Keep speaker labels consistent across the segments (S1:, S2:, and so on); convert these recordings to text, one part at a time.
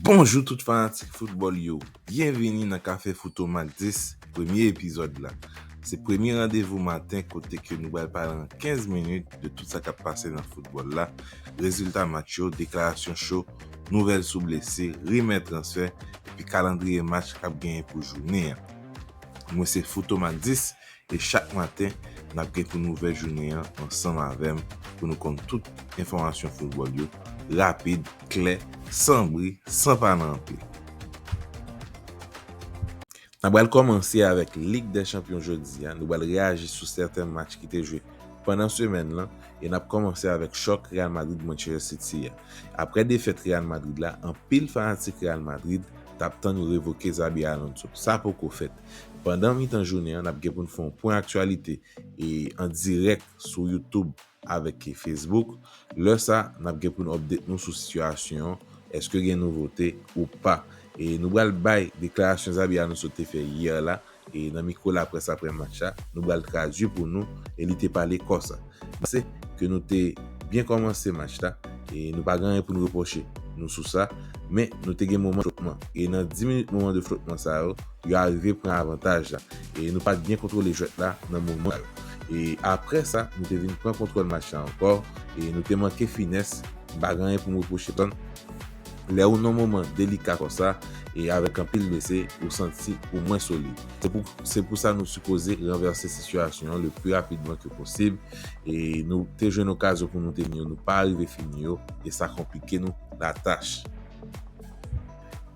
S1: Bonjou tout fanatik foutbòl yo, byenvini nan kafe Foutomak 10 premye epizòd la. Se premye randevou maten kote ke nou pral pale an 15 minit de tout sa kap pase nan foutbòl la, rezilta match yo, deklarasyon cho, nouvèl sou blese, rimè transfè epi kalandriye match kap genyen pou jounen an. Mwen se Foutomak 10 e chak maten nap gen pou nouvèl jounen an ansanm avèm pou nou konn tout enfòmasyon foutbòl yo rapid, klè, san bri, san pale anpil. Nap pral kòmanse avèk Lig dè chanpyon jodi a, nou pral reyaji sou sèten match ki te jwe pandan semèn lan e nap kòmanse avèk chòk Real Madrid Manchester City a. Aprè defèt Real Madrid la anpil fanatik Real Madrid tap tann yo revoke Xabi Alonso, sa poko fèt. Pandan mitan jounen an, n ap gen pou n fè yon pwen aktyalite an dirèk sou Youtube avèk Facebook. Lè sa, n ap gen pou n update nou sou sitiyasyon an, èske gen nouvote ou pa. Nou pral bay deklarasyon Xabi Alonso te fè yè la nan mikwo laprès aprè match la, nou pral tradui pou nou, e li te pale konsa. Mpanse ke nou te byen kòmanse match la e nou pa gen anyen pou nou repwoche nou sou sa, men nou te gen moman de flotman e nan 10 minit moman de flotman sa yo, yo arive pran avantaj la e nou pat byen kontwole jwèt la nan moman sa yo. E aprè sa nou te vin pran kontwòl match la ankò e nou te manke finès, mpa gen anyen pou m repwoche pèsòn. Lè ou nan moman delika konsa e avèk anpil mesi, ou santi ou mwen solid. Se pou sa nou sipoze ranvèse sitiyasyon an le pi rapidman ke posib e nou te jwenn okazyon pou nou te ni yo nou pa arive fini yo e sa konplike nou latach.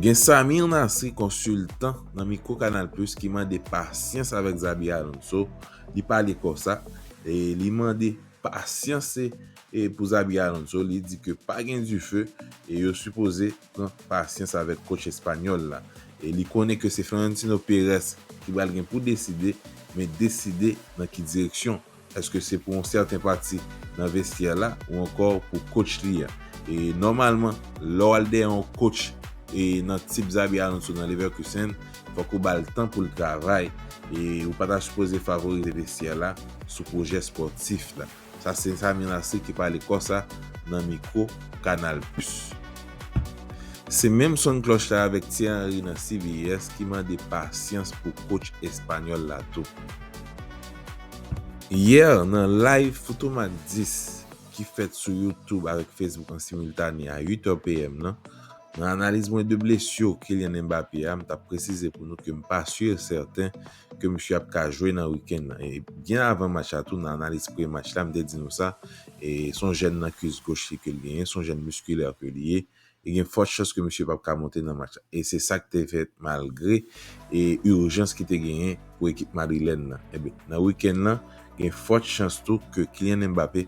S1: Gen Samir Nasri konsiltan nan mikwo Canal Plus ki mande pasyans avèk Xabi Alonso, li pale konsa e li mande Pasyanse pou Xabi Alonso, li di ke pa gen dife e yo sipoze pran pasyans avèk kotch espanyòl la. E li konnen ke se Florentino Perez ki pral gen pou deside, men deside nan ki direksyon, èske se pou yon sèten pati nan vestyè la ou ankò pou kotch li a. E nòmalman lè w al dèyè yon kotch nan tip Xabi Alonso nan Leverkusen, fòk ou bal tan poul travay e ou pa ta sipoze favorize vestyè la sou pwojè spòtif la. Sa se Samy Larcé ki pale konsa nan mikwo Canal Plus. Se menm son klòch la avèk Thierry Henry nan CBS ki mande pasyans pou coach espanyòl la tou. Yè nan live Foutomac 10 ki fèt sou YouTube avèk Facebook an simultané a 8 heures PM nan, Nan analiz mwen de blesur Kylian Mbappé a, m tap presize pou nou ke m pa sur e sèten ke misye ap ka jwe nan weekend lan. E byen avan match la tou nan analiz pre match la m te di nou sa, e s on jèn nan kwis goch li ke l genyen, s on jèn musculaire ke li ye, e gen fort chans ke misye pap ka monte nan match la. E se sak te fèt malgre e urjans ki te genyen pou ekip madrilèn nan. Ebyen nan weekend lan gen fort chans tou ke Kylian Mbappé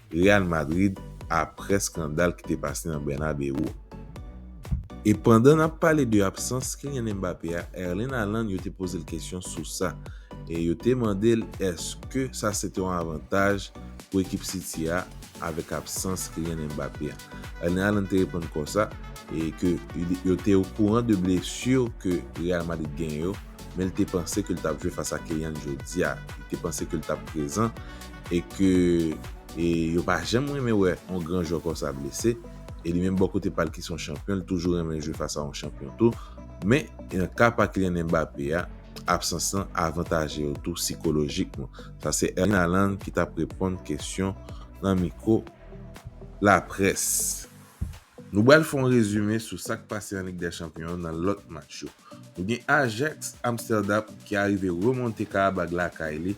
S1: Real Madrid aprè skandal ki te pase nan Bernabeu. E pandan n ap pale de absans Kylian Mbappé a, Erling Haaland yo te poze l kesyon sou sa e yo te mande l eske sa se te yon avantaj pou ekip City a avèk absans Kylian Mbappé a. Erling Haaland te reponn konsa e ke yo te okouran de blessure ke Real Madrid genyen yo men l te panse ke l t ap jwe fas a Kylian jodi a, li te panse ke l t ap prezan. e ke yo pa janm renmen wè yon gran jwè konsa blese, e li menm bò kote pa l ki se yon chanpyon li toujou renmen jwe fas a yon chanpyon tou, men nan ka pa Kylian Mbappé a, absans lan avantaje yo tou sikolojikman. Sa se Erling Haaland ki t ap reponn kesyon nan mikwo laprès. Nou bal fè yon rezime sou sa k pase nan Lig dè Chanpyon an nan lòt match yo. Nou gen Ajax Amsterdam ki arive remonte Karabag lakay li,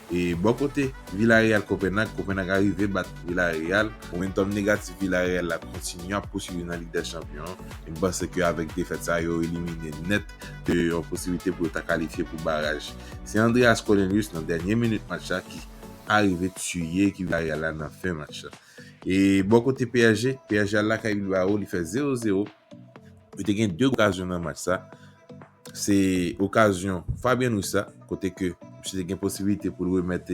S1: E bò kote Villareal Kopenag, Kopenag arive bat Villareal. Momentòm negatif Villareal la kontinye ap pouswiv nan Lig dè Chanpyon an e m panse ke avèk defèt sa yo elimine nèt de yon posiblite pou yo ta kalifye pou baraj. Se Andreas Cornelius nan dènye minit match la ki arive tiye ekip Villareal la nan fen match la. E bò kote psg, psg al lakay Bilbao li fè 0-0. Yo te gen 2 okazyon nan match sa. Se okazyon Fabien Ruiz la, kote ke misye te gen posibilite pou l remèt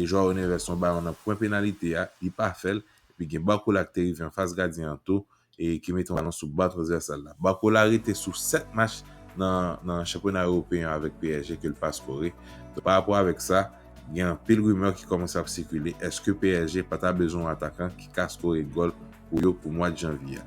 S1: Joao Neves yon balon nan pwen penalite a, li pa fè l, epi gen Barcola ki te rive anfas gadyen an tou, e ki mete yon balon sou ba transvèsal la. Barcola rete sou 7 match nan chanpyona ewopeyen an avèk psg ke l pa skore. Donk pa rapò avèk sa, gen anpil rimè ki kòmanse ap sikile, èske psg pa ta bezwen yon atakan ki ka skore gòl pou yo pou mwad janvye a?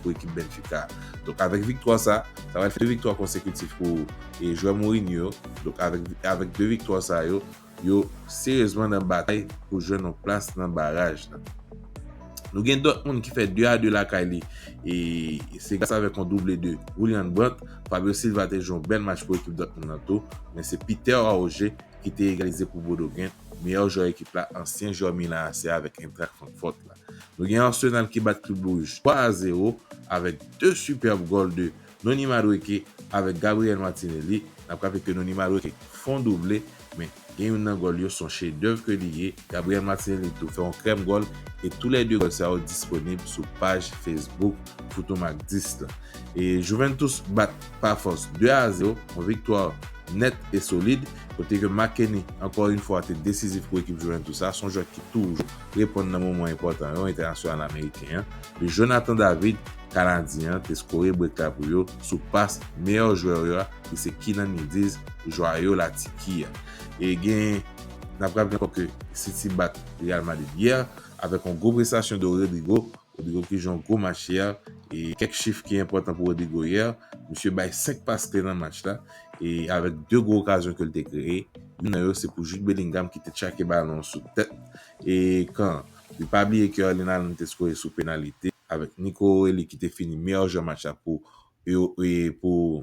S1: pou ekip Benfica. Donk avèk viktwa sa, sa va fè 2 viktwa konsekitif pou jwè Mourinho yo. Donk avèk 2 viktwa sa yo, yo seryezman nan batay pou jwenn yon plas nan baraj la. Nou gen Dortmund ki fè 2 a 2 lakay li e se gras avèk yon double de Julian Brandt. Fabio Silva te jwe yon bèl match pou ekip Dortmund nan tou. Men se Peter Auge ki te egalize pou Bodo Glimt, meyè jwè ekip la, ansyen jwè Milan AC avèk Eintracht Frankfurt la. Nou gen Arsenal ki bat Club Rouge 3 a 0 avèk 2 superb gòl de Noni Madueke avèk Gabriel Martinelli. N ap raple ke Noni Madueke fon double men gen youn nan gòl yo son chef d'oeuvre ke li ye. Gabriel Martinelli tou fè yon krèm gòl e tou lè 2 gòl sa yo disponib sou paj Facebook Foutom ak 10 lan. E Juventus bat Pafos 2 a 0, yon viktwa nèt e solid kote ke Marc Henry ankò youn fwa te desizif pou ekip Juventus sa. Son jwè ki toujou reponn nan moman enpòtan yo, entènasyonal ameriken an, de Jonathan David, kanadyen an, te skore brek la pou yo sou pas meyè jwè yo a ki se Kenan Yildiz, jwayo La Tiki a. E gen N ap raple ankò ke City bat Real Madrid yè avèk yon gwo prestasyon de Rodrygo Rodrigo Kijan gwo match hier e kèk chif ki enpòtan pou Rodrigo hier, misye bay 5 pas kle nan match la e avèk 2 gwo okazyon ke l te kreye, youn nan yo se pou Jude Bellingham ki te tchake balon an sou tèt e kan an. Li pa bliye ke Erling Haaland te skore sou penalite avèk Nico Elly ki te fini meyè jwè match la pou pou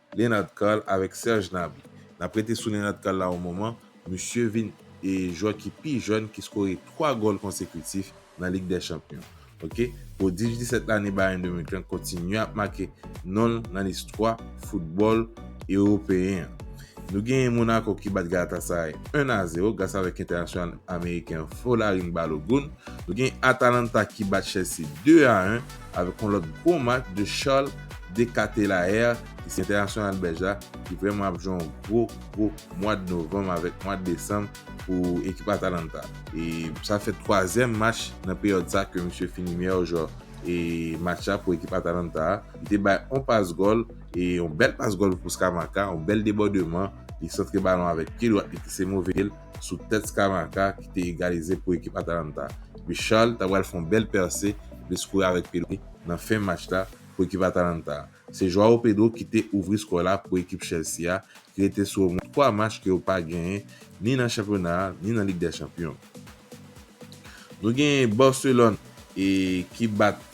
S1: Leonard Carl avèk Serge Gnabry. N ap rete sou Leonard Carl la yon moman, misye vin jwè ki pi jèn ki skore 3 gòl konsekitif nan Lig dè Chanpyon. Ok, pwodij 17 lane Bayern de Munich lan kontinye ap make non l nan listwa foutbòl ewopeyen an. Nou genyen Monaco ki bat Galatasaray 1 a 0 gras avèk entènasyonal ameriken an Folarin Balogun. Nou genyen Atalanta ki bat Chelsea 2 a 1 avèk yon lòt bon match de Charles de Catelaere ki se entènasyonal bèlj la ki vrèman ap jwe yon gwo gwo mwad novanm avèk mwad desanm pou ekip Atalanta e sa fè twazyèm match nan peryòd sa ke misye fini meyè jwè e match la pou ekip Atalanta a li te bay yon pas gòl e yon bèl pas gòl pou Scamacca yon bèl debòdeman li santre balon avèk pye dwat li ki se move pye l. sou tèt Scamacca ki te egalize pou ekip Atalanta. Luis Charles ta pral fè yon bèl pèse epi skore avèk pil li nan fen match la pou ekip Atalanta. Se Joao Pedro ki te ouvri skò la pou ekip Chelsea a ki rete sou omwen 3 match ke yo pa genyen ni nan chanpyona a ni nan Lig dè Chanpyon. Nou genyen Barcelone e ki bat.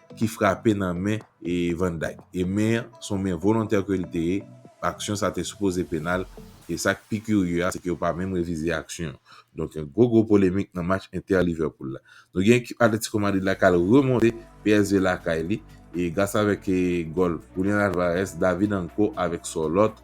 S1: ki frape nan men Van Dijk e men an se yon men volontè ke li te ye, aksyon sa te sipoze penal e sak pi kirye a se ke yo pa menm revize aksyon an. Donk yon gwo gwo polemik nan match Inter Liverpool la. Nou gen ekip Atletico Madrid la kal remonte psg lakay li e gras avèk gòl Julian Alvarez, David Anco avèk Sorloth.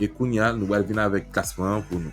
S1: E kounya nou pral vin avèk klasman an pou nou.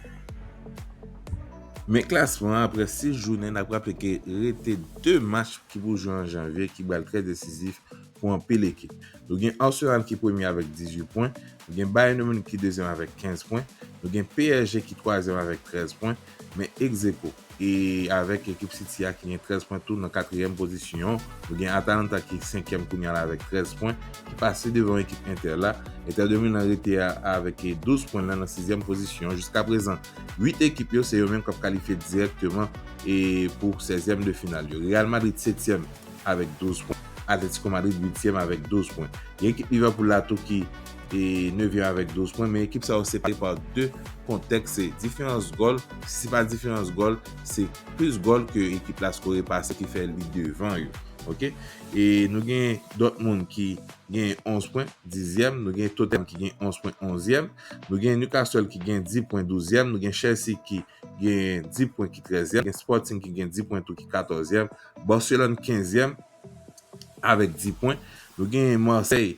S1: Men klasman an aprè 6 jounen n ap raple ke rete 2 match ki pou jwe an janvye ki pral trè desizif pou anpil ekip. Nou gen Arsenal ki premye avèk 18 pwen, nou gen Bayern Munich ki dezyèm avèk 15 pwen, nou gen psg ki twazyèm avèk 13 pwen, Men egzeko e avèk ekip City a ki gen 13 pwen tou nan katriyèm pozisyon. Nou gen Atalanta ki senkyèm kounya la avèk 13 pwen, ki pase devan ekip Inter la. Inter de Milan rete a avèk 12 pwen lan nan sizyèm pozisyon. Jiska prezan 8 ekip yo se yo menm k ap kalifye dirèkteman e pou sèzyèm de final yo. Real Madrid setyèm avèk 12 pwen, Atletico Madrid uityèm avèk 12 pwen. Gen ekip Liverpool la tou ki. e nevyèm avèk 12 pwen men ekip sa yo separe pa 2 kontèks se diferans gòl si se pa diferans gòl se plis gòl ke ekip la skore pase ki fè li devan yo ok e nou gen Dortmund ki gen 11 pwen dizyèm nou gen Tottenham ki gen 11 pwen onzyèm nou gen Newcastle ki gen 10 pwen douzyèm nou gen Chelsea ki gen 10 pwen ki trèzyèm gen Sporting ki gen 10 pwen tou ki katòzyèm Barcelone kenzyèm avèk 10 pwen nou gen Marseille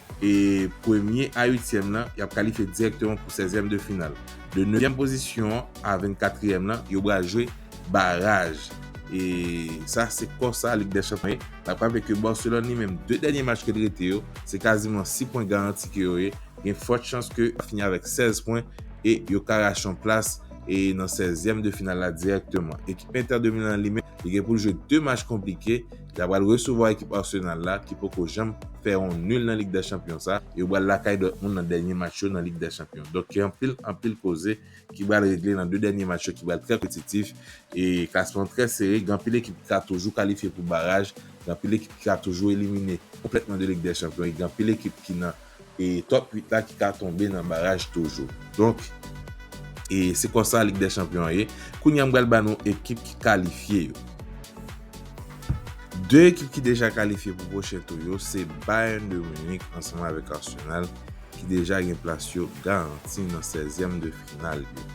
S1: E premye a uityèm lan yap kalifye dirèkteman pou sèzyèm de final. De nevyèm pozisyon an a vennkatriyèm lan yo bral jwe baraj. E sa se konsa Lig dè Chanpyon ye. Nap raple ke Barcelone li menm 2 dènye match ke li rete yo se kaziman 6 pwen garanti ke yo ye. Gen fòt chans ke yo fini avèk 16 pwen e yo ka rache yon plas e nan sèzyèm de final la dirèkteman. Ekip Inter de Milan an li menm li gen poul jwe 2 match konplike. L a pral resevwa ekip Arsenal la ki poko janm fè yon nul nan Lig dè Chanpyon sa e yo pral lakay Dortmund nan dènye match yo nan Lig dè Chanpyon. Donk gen anpil, anpil koze ki pral regle nan 2 dènye match yo ki pral trè konpetitif e klasman an trè sere. Gen anpil ekip ki ka toujou kalifye pou baraj, gen anpil ekip ki ka toujou elimine konplètman de Lig dè Chanpyon e gen anpil ekip ki nan. e top 8 la ki ka tonbe nan baraj toujou donk e se konsa lig dè chanpyon an ye kounya m pral ba nou ekip ki kalifye yo 2 ekip ki deja kalifye pou pwochen tou yo se Bayern de Munich ansanm avèk Arsenal ki deja gen plas yo garanti nan 16 zièm de final yo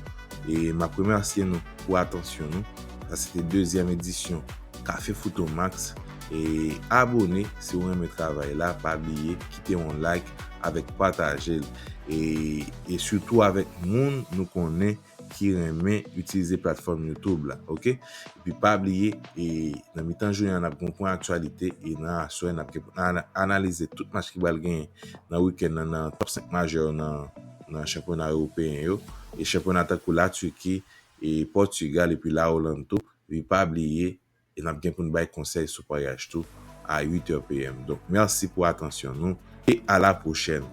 S1: e m ap remèsye nou pou atansyon nou sa se te dezyèm edisyon kafe fout o max e abone si w renmen travay la pa bliye kite yon like avèk pataje l e e sitou avèk moun nou konnen ki renmen itilize platfòm youtube la ok epi pa bliye e nan mitan jounen an nap gen yon pwen aktyalite e nan aswè nap gen pou nan analize tout match ki pral genyen nan wikenn nan nan top 5 majè yo nan nan chanpyona ewopeyen yo e chanpyona tankou la Turquie e Portugal epi la Hollande tou epi pa bliye e nap gen poun bay konsèy sou paryaj tou a 8 heures PM donk merci pou atansyon nou e a la prochèn.